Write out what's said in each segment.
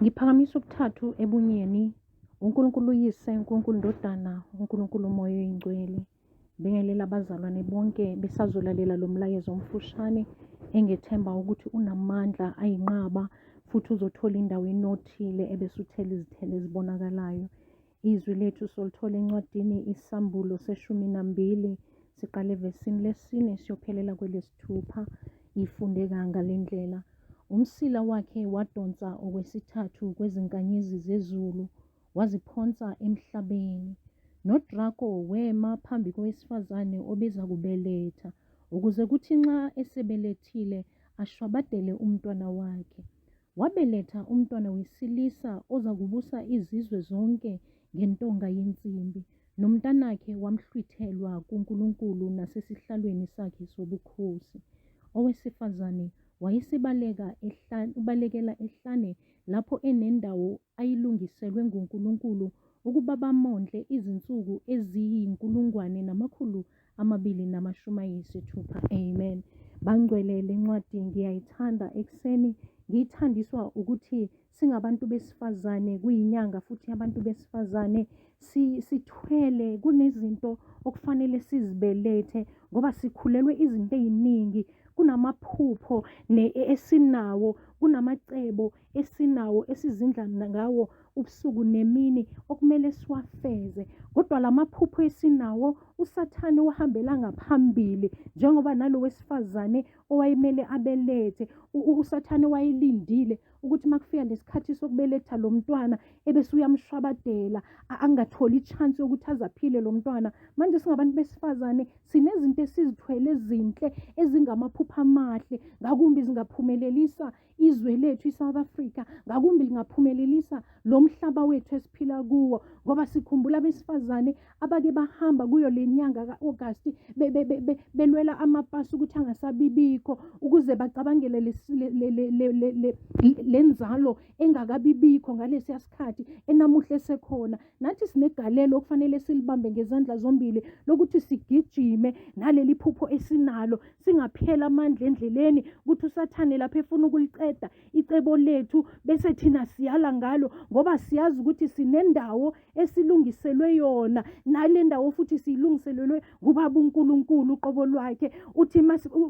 Ngiphakamisa ukuthathu ebunyeni, uNkulunkulu uYise, uNkulunkulu Ndodana, uNkulunkulu Moya Oyingcwele. Bingelela abazalwane bonke besazolalela lo mlayezo omfushane engethemba ukuthi unamandla ayinqaba futhi uzothola indawo enothile ebese uthela izithelo ezibonakalayo. Izwi lethu solithola encwadini isAmbulo seshumi nambili siqale evesini lesine siyophelela kwelesithupha ifundeka ngalendlela umsila wakhe wadonsa okwesithathu kwezinkanyezi zezulu waziphonsa emhlabeni nodrako wema phambi kowesifazane obeza kubeletha ukuze kuthi nxa esebelethile ashwabadele umntwana wakhe wabeletha umntwana wesilisa oza kubusa izizwe zonke ngentonga yensimbi, nomntanakhe wamhlwithelwa kuNkulunkulu nasesihlalweni sakhe sobukhosi. Owesifazane wayesebaleka ehlane, ubalekela ehlane lapho enendawo ayilungiselwe nguNkulunkulu ukuba bamondle izinsuku eziyinkulungwane namakhulu amabili namashumi ayisithupha amen bangcwele le ncwadi ngiyayithanda ekuseni ngiyithandiswa ukuthi singabantu besifazane kuyinyanga futhi abantu besifazane sithwele kunezinto okufanele sizibelethe ngoba sikhulelwe izinto eziningi kunamaphupho esinawo kunamacebo esinawo esizindla ngawo ubusuku nemini okumele siwafeze kodwa lamaphupho esinawo usathane uhambela ngaphambili njengoba nalo wesifazane owayemele abelethe usathane wayelindile ukuthi makufika lesikhathi sokubeletha lo mntwana ebese uyamshwabadela angatholi ichance yokuthi azaphile lo mntwana manje singabantu besifazane sinezinto esizithwele ezinhle ezingamaphupha amahle ngakumbi zingaphumelelisa izwe lethu iSouth Africa ngakumbi lingaphumelelisa lo mhlaba wethu esiphila kuwo ngoba sikhumbula abesifazane abake bahamba kuyo le nyanga ka-August belwela amapasi ukuthi angasabibikho ukuze bacabangele le nzalo engakabibikho ngalesiya sikhathi enamuhla esekhona nathi sinegalelo okufanele silibambe ngezandla zombili lokuthi sigijime naleli phupho esinalo singaphela amandla endleleni ukuthi usathane lapho efuna ukuliceda icebo lethu bese thina siyala ngalo ngoba siyazi ukuthi sinendawo esilungiselwe yona nale ndawo futhi siyilungiselelwe kubaba uNkulunkulu uqobo lwakhe uthi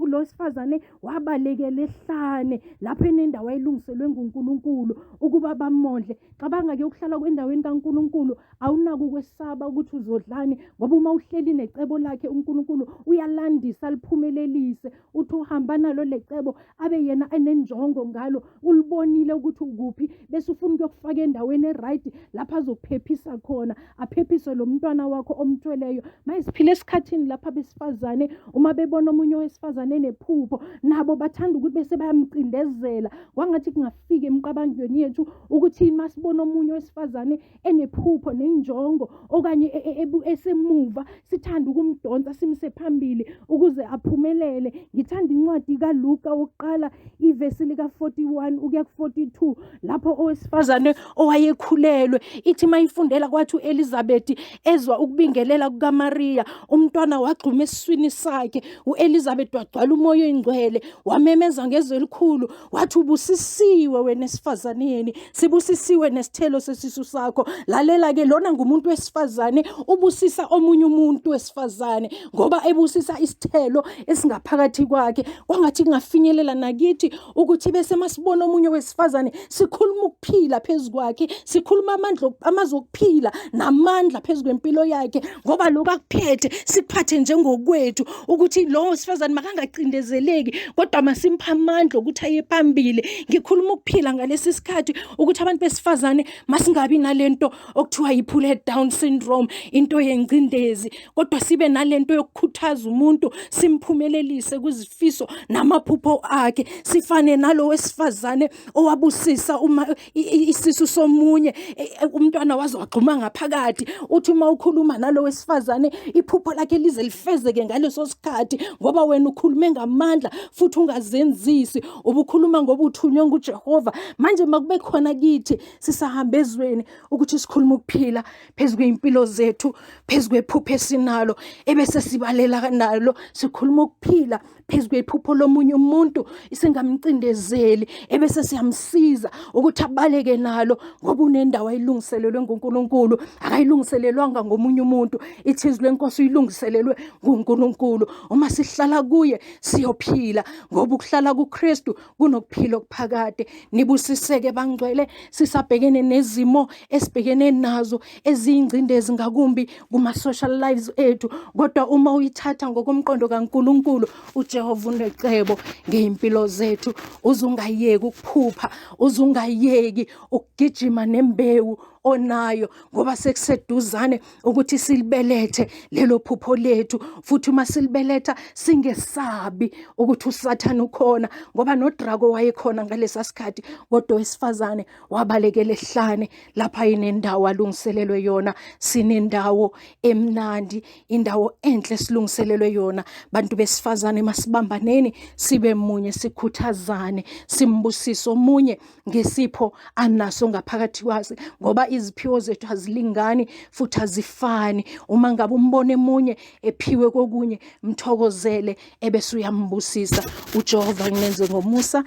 lo sifazane wabalekela ehlane lapho enendawo ayilungiselwe nguNkulunkulu ukuba bamondle cabanga ke ukuhlala kwendaweni kaNkulunkulu awunako ukwesaba ukuthi uzodlani ngoba uma uhleli necebo lakhe uNkulunkulu uyalandisa liphumelelise uthi uhamba nalo lecebo abe yena enenjongo ngalo ulibonile ukuthi ukuphi bese ufuna ukuyokufaka endaweni eright lapho azokuphephisa khona aphephise lo mntwana wakho omthweleyo maye siphile esikhathini lapho abesifazane uma bebona omunye owesifazane enephupho nabo bathanda ukuthi bese bayamcindezela kwangathi kungafika emqabangweni yethu ukuthi masibona omunye owesifazane enephupho nenjongo okanye e, e, e, esemuva sithanda ukumdonsa simse phambili ukuze aphumelele ngithanda incwadi kaLuka wokuqala ivesi lika 41 ukuya ku 42 lapho owesifazane owayekhulelwe ithi mayifundela kwathi uElizabeth ezwa ukubingelela kukaMaria umntwana wagxuma esiswini sakhe uElizabeth wagcwala umoya oyingcwele wamemeza ngezwi elikhulu wathi ubusisiwe wena esifazaneni sibusisiwe nesithelo sesisu sakho lalela ke lona ngumuntu wesifazane ubusisa omunye umuntu wesifazane ngoba ebusisa isithelo esingaphakathi kwakhe kwangathi kungafinyelela nakithi ukuthi bese masibona omunye wesifazane sikhuluma okuphila phezu kwakhe sikhuluma amandla amazwi okuphila namandla phezu kwempilo yakhe ngoba lokho akuphethe sikuphathe njengokwethu ukuthi lowo sifazane makangacindezeleki kodwa masimpha amandla ukuthi aye phambili ngikhuluma ukuphila ngalesi sikhathi ukuthi abantu besifazane masingabi nalento okuthiwa yiphule down syndrome into yengcindezi kodwa sibe nalento yokukhuthaza umuntu simphumelelise kuzifiso namaphupho akhe sifane nalo wesifazane owabusisa uma isisu somunye e, e, umntwana waze wagxuma ngaphakathi uthi uma ukhuluma nalo wesifazane iphupho lakhe lize lifezeke ngaleso sikhathi ngoba wena ukhulume ngamandla futhi ungazenzisi ubukhuluma ngoba uthunywe nguJehova manje makube khona kithi sisahambe ezweni ukuthi sikhuluma ukuphila phezu kwezimpilo zethu phezu kwephupho esinalo ebese sibalela nalo sikhuluma ukuphila phezu kwephupho lomunye umuntu singamcindezeli ebese siyamsiza ukuthi abaleke nalo ngoba unendawo ayilungiselelwe nguNkulunkulu akayilungiselelwanga ngomunye umuntu ithizwe lenkosi uyilungiselelwe nguNkulunkulu uma sihlala kuye siyophila ngoba ukuhlala kuKristu kunokuphila okuphakade nibusiseke bangcwele sisabhekene nezimo esibhekene nazo eziyingcindezi ngakumbi kuma-social lives ethu kodwa uma uyithatha ngokomqondo kankulunkulu ujehova unecebo ngey'mpilo zethu uzungayeki ukuphupha uzungayeki ukugijima nembewu onayo ngoba sekuseduzane ukuthi silibelethe lelo phupho lethu futhi uma silibeletha singesabi ukuthi usathane ukhona ngoba nodrako wayekhona ngalesa sikhathi kodwa wesifazane wabalekela ehlane lapha inendawo alungiselelwe yona sinendawo emnandi indawo enhle silungiselelwe yona bantu besifazane masibambaneni sibe munye sikhuthazane simbusise omunye ngesipho anaso ngaphakathi kwazi ngoba iziphiwo zethu azilingani futhi azifani uma ngabe umbona emunye ephiwe kokunye mthokozele ebese uyambusisa uJehova ngenze ngomusa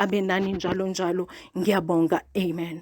abe nani njalo njalo ngiyabonga amen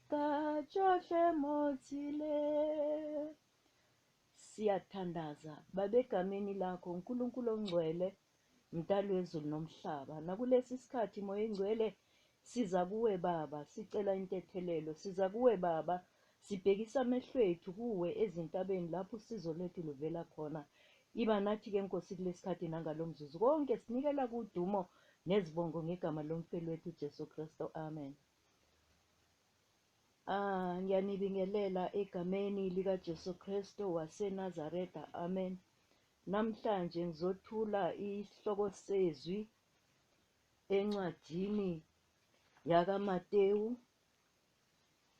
Ka tsohle mo tsile. Siyathandaza, Baba, egameni lakho, uNkulunkulu ongcwele, mdali wezulu nomhlaba. Nakulesi sikhathi, Moya Engcwele, siza kuwe Baba, sicela intethelelo. Siza kuwe Baba, sibhekisa amehlo ethu kuwe ezintabeni lapho usizo lethu luvela khona. Iba nathi ke Nkosi kulesikhathi nangalo mzuzu. Konke sinikela kudumo nezibongo ngegama lomfelwethu uJesu Kristu. Amen. Ah, ngiyanibingelela egameni likaJesu Kristu waseNazaretha. Amen. Namhlanje ngizothula isihloko sezwi encwadini yakaMatewu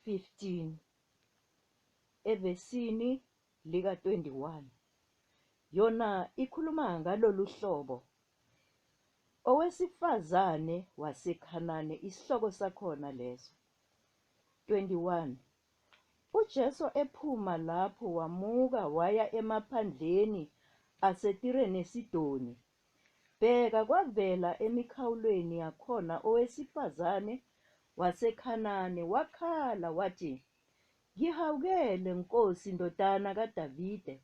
15 evesini lika-21, yona ikhuluma ngalolu hlobo, Owesifazane waseKhanani, isihloko sakhona leso. 21, UJesu ephuma lapho wamuka waya emaphandleni aseTire neSidoni, bheka kwavela emikhawulweni yakhona owesifazane waseKhanani wakhala wathi, Ngihawukele, Nkosi, Ndodana kaDavide,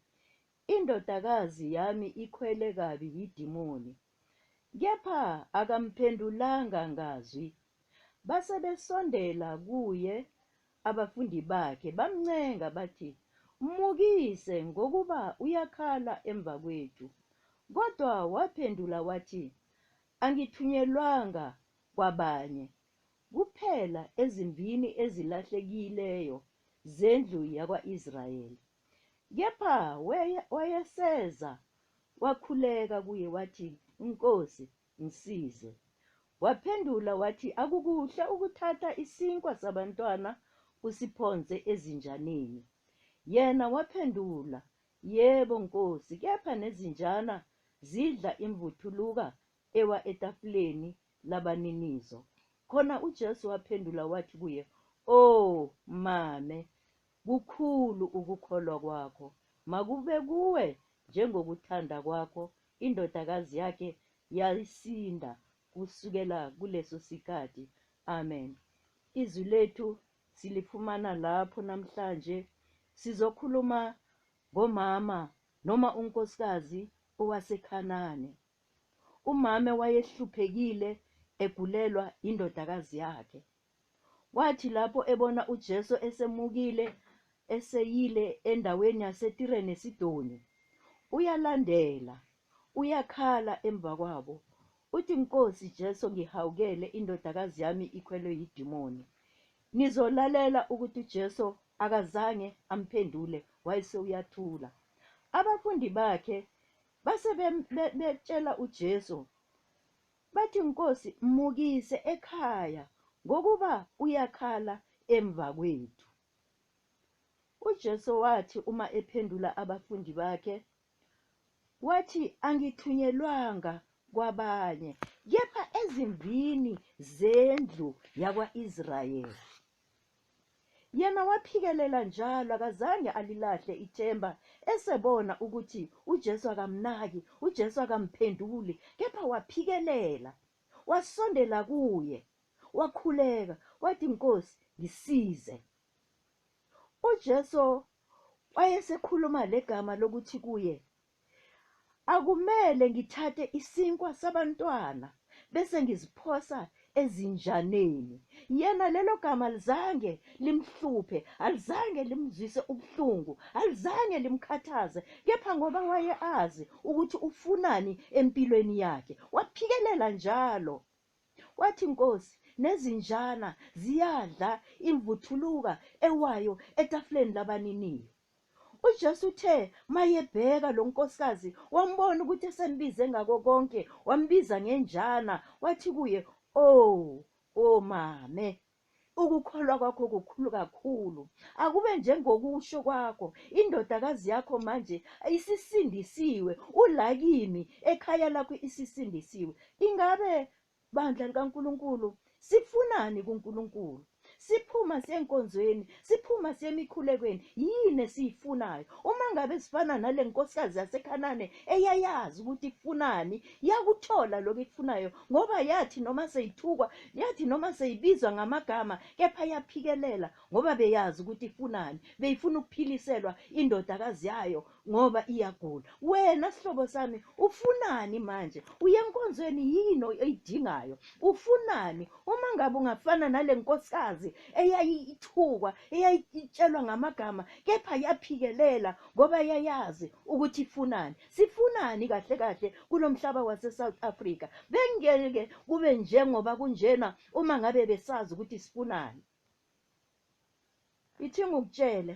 indodakazi yami ikhwele kabi yidimoni. Kepha akamphendulanga ngazwi. Base besondela kuye abafundi bakhe, bamncenga bathi, Mmukise, ngokuba uyakhala emva kwethu. Kodwa waphendula wathi, Angithunyelwanga kwabanye, kuphela ezimbini ezilahlekileyo zendlu yakwa-Israyeli. Kepha wayeseza wakhuleka kuye wathi, Nkosi, ngisize. Waphendula wathi, Akukuhle ukuthatha isinkwa sabantwana usiphonse ezinjaneni. Yena waphendula, Yebo, Nkosi, kepha nezinjana zidla imvuthuluka ewa etafuleni labaninizo. Khona uJesu waphendula wathi kuye, O mame, kukhulu ukukholwa kwakho, makube kuwe njengokuthanda kwakho. Indodakazi yakhe yasinda kusukela kuleso sikhathi. Amen. Izwi lethu silifumana lapho namhlanje. Sizokhuluma ngomama noma unkosikazi owaseKhanani. Umama wayehluphekile egulelwa indodakazi yakhe. Kwathi lapho ebona uJesu esemukile eseyile endaweni yaseTire neSidoni, uyalandela, uyakhala emva kwabo. Uthi, Nkosi Jesu, ngihawukele indodakazi yami ikhwelwe yidimoni. Nizolalela ukuthi uJesu akazange amphendule, wayesewuyathula. Abafundi bakhe Base bem- be- betshela uJesu bathi, Nkosi, mmukise ekhaya ngokuba uyakhala emva kwethu. UJesu wathi uma ephendula abafundi bakhe, wathi, Angithunyelwanga kwabanye, kepha ezimbini zendlu yakwa-Israyeli. Yena waphikelela njalo, akazange alilahle ithemba, esebona ukuthi uJesu akamnaki, uJesu akamphenduli, kepha waphikelela, wasondela kuye, wakhuleka, wathi, Nkosi, ngisize. UJesu wayesekhuluma legama lokuthi kuye, Akumele ngithathe isinkwa sabantwana bese ngiziphosa ezinjaneni. Yena lelo gama alizange limhluphe, alizange limzwise ubuhlungu, alizange limkhathaze, kepha ngoba waye azi ukuthi ufunani empilweni yakhe, waphikelela njalo. Wathi, Nkosi, nezinjana ziyadla imvuthuluka ewayo etafuleni labaniniyo. uJesu uthe mayebheka lo nkosikazi wambona ukuthi esembize ngako konke wambiza ngenjana wathi kuye o oh, o oh, mame ukukholwa kwakho kukhulu kakhulu akube njengokusho kwakho indodakazi yakho manje isisindisiwe ulakimi ekhaya lakho isisindisiwe ingabe Bandla likaNkulunkulu, sifunani kuNkulunkulu? Siphuma siyenkonzweni, siphuma siyemikhulekweni. Yini esiyifunayo? Uma ngabe sifana nale nkosikazi yaseKhanane eyayazi ukuthi ifunani, yakuthola lokho ikufunayo ngoba yathi noma seyithukwa, yathi noma seyibizwa ngamagama, kepha yaphikelela ngoba beyazi ukuthi ifunani. Beyifuna ukuphiliselwa indodakazi yayo ngoba iyagula wena sihlobo sami ufunani manje uye enkonzweni yini oyidingayo ufunani uma ngabe ungafana nale nkosikazi eyayithukwa eyayitshelwa ngamagama kepha yaphikelela ngoba yayazi ukuthi ifunani sifunani kahle kahle kulo mhlaba wase-south africa bengeke kube njengoba kunjena uma ngabe besazi ukuthi sifunani ithi ngikutshele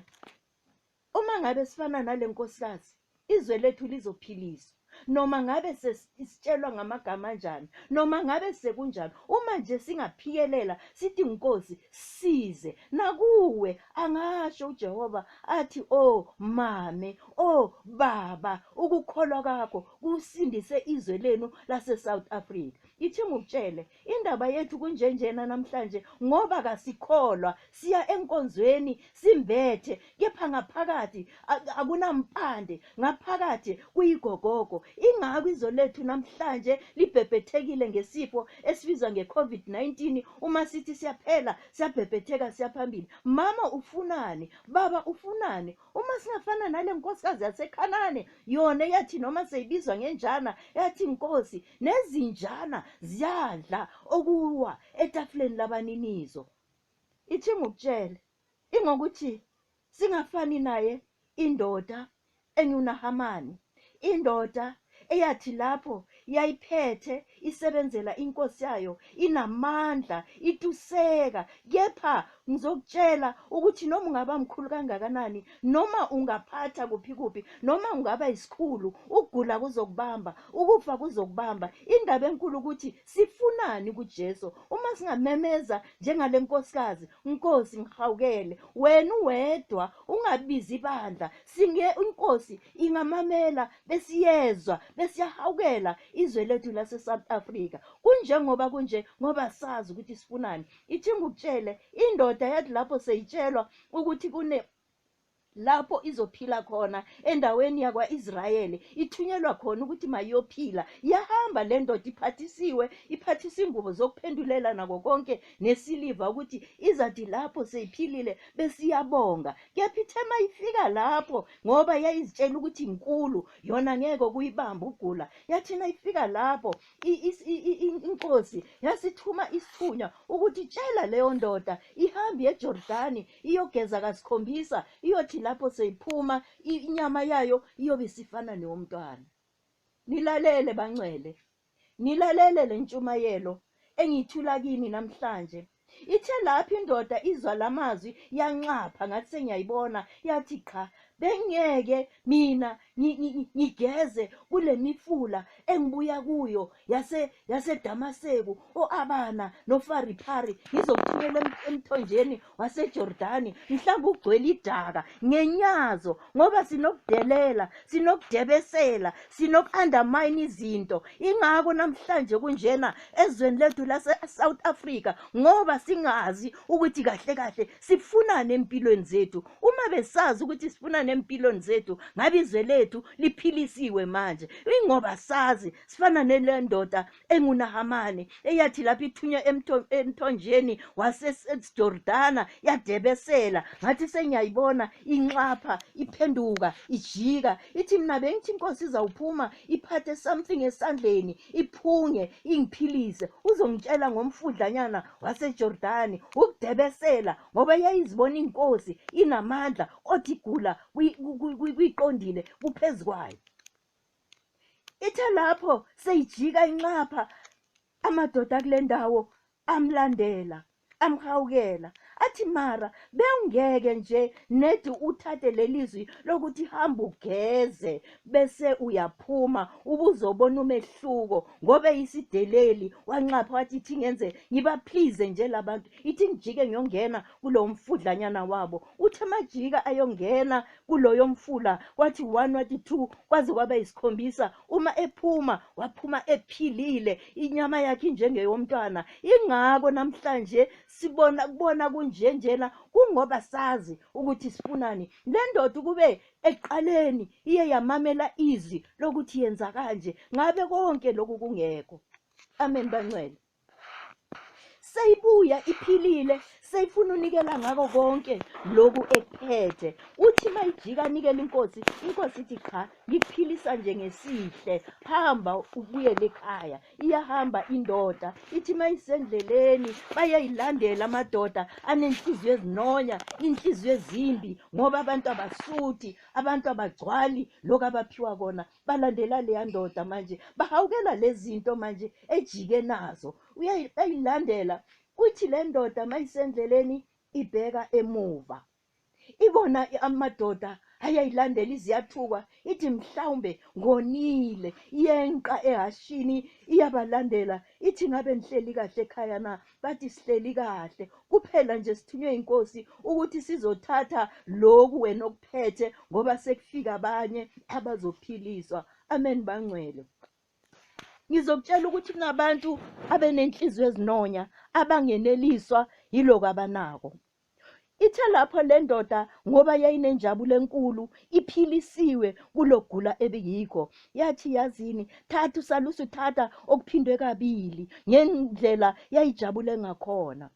Uma ngabe sifana nale nkosikazi izwe lethu lizophiliswa noma ngabe sesitshelwa ngamagama anjani noma ngabe sekunjani uma nje singaphikelela sithi nkosi size nakuwe angasho uJehova athi o oh, mame o oh, baba ukukholwa kwakho kusindise izwe lenu lase South Africa ithi ngikutshele Indaba yethu kunjenjena namhlanje ngoba kasikholwa siya enkonzweni simbethe kepha ngaphakathi akunampande ngaphakathi kuyigogogo ingakho izwe lethu namhlanje libhebhethekile ngesifo esibizwa ngeCovid-19 uma sithi siyaphela siyabhebhetheka siyaphambili mama ufunani baba ufunani uma singafana nale nkosikazi yaseKhanane yona yathi noma seyibizwa ngenjana yathi inkosi nezinjana ziyadla okuwa etafuleni labaninizo ithi ngikutshele ingokuthi singafani naye indoda enyunahamani indoda eyathi lapho yayiphethe isebenzela inkosi yayo inamandla ituseka kepha Ngizokutshela ukuthi noma ungaba mkhulu kangakanani, noma ungaphatha kuphi kuphi, noma ungaba isikhulu, ukugula kuzokubamba, ukufa kuzokubamba. Indaba enkulu ukuthi sifunani kuJesu. Uma singamemeza njengale nkosikazi, Nkosi ngihawukele, wena uwedwa, ungabizi ibandla. Singe inkosi ingamamela besiyezwa, besiyahawukela izwe lethu lase-South Africa. Kunjengoba kunje ngoba sazi ukuthi sifunani. ithi ngikutshele indoda yathi lapho seyitshelwa ukuthi kune lapho izophila khona endaweni yakwa-israyeli ithunyelwa khona ukuthi mayiyophila yahamba le ndoda iphathisiwe iphathisa ingubo zokuphendulela nako konke nesiliva ukuthi izathi lapho seyiphilile besiyabonga kepha ithe mayifika lapho ngoba yayizitshela ukuthi inkulu yona ngeke kuyibamba ugula yathina ifika lapho inkosi yasithuma isithunywa ukuthi tshela leyo ndoda ihambe ejordani iyogeza kasikhombisa iyothi lapho seyiphuma inyama yayo iyobe isifana neyomntwana nilalele bangcwele nilalele le ntshumayelo engiyithula kini namhlanje Ithe lapho indoda izwa la mazwi yanxapha ngathi sengiyayibona yathi qha bengeke mina ngigeze kule mifula engibuya kuyo yase yasedamaseku o-abana nofariphari ngizokuthumela emthonjeni wasejordani mhlawumbe ugcwele idaka ngenyazo ngoba sinokudelela sinokudebesela sinoku-undermine izinto ingako namhlanje kunjena ezweni lethu lase-south africa ngoba singazi ukuthi kahle kahle sifunani empilweni zethu uma besazi ukuthi sifunani empilweni zethu ngabe izwe lethu liphilisiwe manje ingoba sazi sifana nele ndoda engunahamani eyathi lapho ithunywa emthonjeni wasesejordana yadebesela ngathi sengiyayibona inxapha iphenduka ijika ithi mina bengithi inkosi izawuphuma iphathe something esandleni iphunge ingiphilise uzongitshela ngomfudlanyana wasejordani ukudebesela ngoba yayizibona inkosi inamandla kodwa igula kuyiqondile kuphezu kwayo Ithe lapho seyijika inxapha amadoda kule ndawo amlandela amhawukela athi mara bewungeke nje nedi uthathe lelizwi lokuthi hamba ugeze bese uyaphuma ubuzobona umehluko ngobe isideleli wanxapha wathi ithi ngenze ngiba please nje labantu ithi ngijike ngiyongena kulo mfudlanyana wabo uthe majika ayongena kuloyo mfula kwathi one wathi two kwaze kwaba yisikhombisa uma ephuma waphuma ephilile inyama yakhe njengeyomntwana ingako namhlanje sibona kubona kunjenjena kungoba sazi ukuthi sifunani le ndoda ukube ekuqaleni iye yamamela izwi lokuthi yenza kanje ngabe konke lokhu kungekho amen bancwele seyibuya iphilile seyifuna unikela ngako konke lokhu ekuphethe uthi uma ijika anikela inkosi inkosi ithi cha ngikuphilisa nje ngesihle hamba ubuyele ekhaya iyahamba indoda ithi uma isendleleni bayayilandela amadoda anenhliziyo ezinonya inhliziyo ezimbi ngoba abantu abasuthi abantu abagcwali lokhu abaphiwa kona balandela leya ndoda manje bahawukela lezinto manje ejike nazo uyayilandela kuthi le ndoda mayisendleleni ibheka emuva ibona amadoda ayayilandela iziyathukwa ithi mhlawumbe ngonile yenqa ehashini iyabalandela ithi ngabe ngihleli kahle ekhaya na bathi sihleli kahle kuphela nje sithunywe inkosi ukuthi sizothatha lokhu wena okuphethe ngoba sekufika abanye abazophiliswa amen bangcwele ngizokutshela ukuthi kunabantu abenenhliziyo ezinonya abangeneliswa yiloko abanako Ithe lapho le ndoda ngoba yayinenjabulo enkulu iphilisiwe kulogula ebiyikho yathi yazini thatha usalusi thatha okuphindwe kabili ngendlela yayijabule ngakhona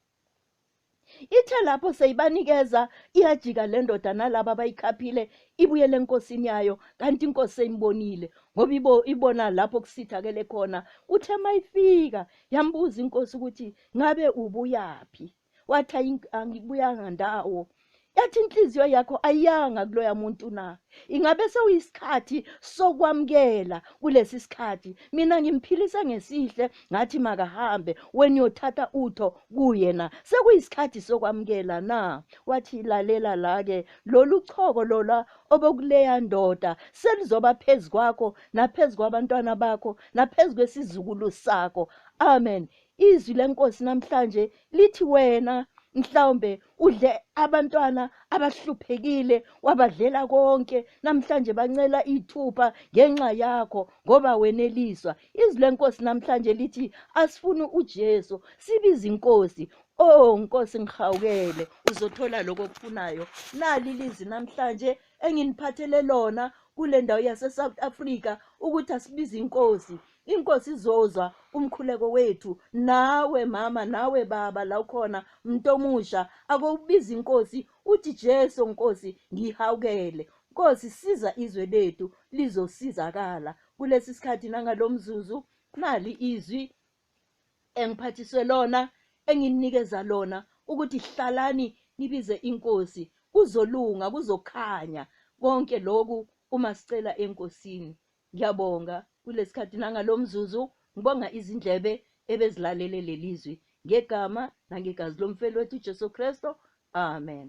ithe lapho seyibanikeza iyajika le ndoda nalaba abayikhaphile ibuyele enkosini yayo kanti inkosi seyimbonile ngoba ibo ibona lapho kusithakele khona kuthe mayifika yambuza inkosi ukuthi ngabe ubuyaphi wathi "Ayi- angibuyanga ndawo yathi inhliziyo yakho ayiyanga kuloya muntu na ingabe sewuyisikhathi sokwamukela kulesi sikhathi mina ngimphilise ngesihle ngathi makahambe wena uyothatha utho kuye na sekuyisikhathi sokwamukela na wathi lalela la-ke lolu choko lola obokuleya ndoda selizoba phezu kwakho naphezu kwabantwana bakho naphezu kwesizukulu sakho amen Izwi lenkosi namhlanje lithi wena mhlawumbe udle abantwana abahluphekile wabadlela konke namhlanje bancela ithupha ngenxa yakho ngoba weneliswa izwi lenkosi namhlanje lithi asifuni uJesu sibiza inkosi oh nkosi ngihawukele uzothola lokho okufunayo nali lizi namhlanje enginiphathele lona kule ndawo yaseSouth Africa ukuthi asibize inkosi inkosi izozwa umkhuleko wethu nawe mama nawe baba la ukhona mntu omusha akowubiza inkosi uthi jesu nkosi ngihawukele nkosi siza izwe lethu lizosizakala kulesi sikhathi nangalo mzuzu nali izwi engiphathiswe lona enginikeza lona ukuthi hlalani nibize inkosi kuzolunga kuzokhanya konke lokhu uma sicela enkosini Ngiyabonga kulesikhathi nangalomzuzu ngibonga izindlebe ebezilalele lelizwi ngegama nangegazi lomfeli wethu uJesu Kristo. Amen.